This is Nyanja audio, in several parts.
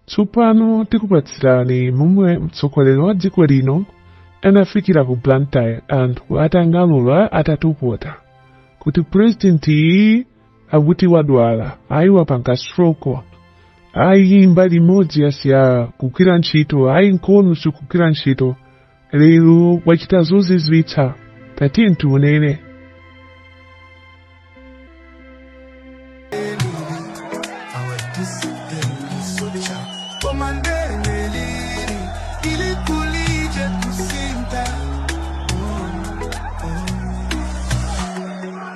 Tsopano tikupatsirani momwe mtsogoleri wa dziko lino anafikira ku Blantyre anthu atang'alura atatokota kuti president iyi akuti wadwala ayi wapanga stroke ayi mbali imodzi yasiya kugwira ntchito ayi mkono sukugwira ntchito lero wachita zozizwitsa tati tiunene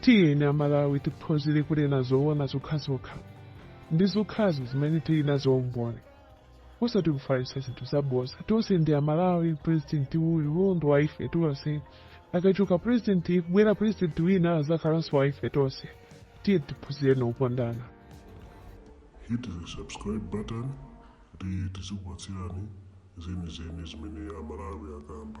tiyeni amalawi tiphunzire kunena zoona zokhazokha ndi zokhazo zimene tili nazo umboni osati kufalitsa zinthu zabodza tonse ndi amalawi president uyu ndi wa ife tonse akachoka president kubwera president wina azakhalanso wa ife tonse tiyeni tiphunzire kukondana Hit the subscribe button kuti tizikupatsirani zenizeni zimene Amalawi akamba.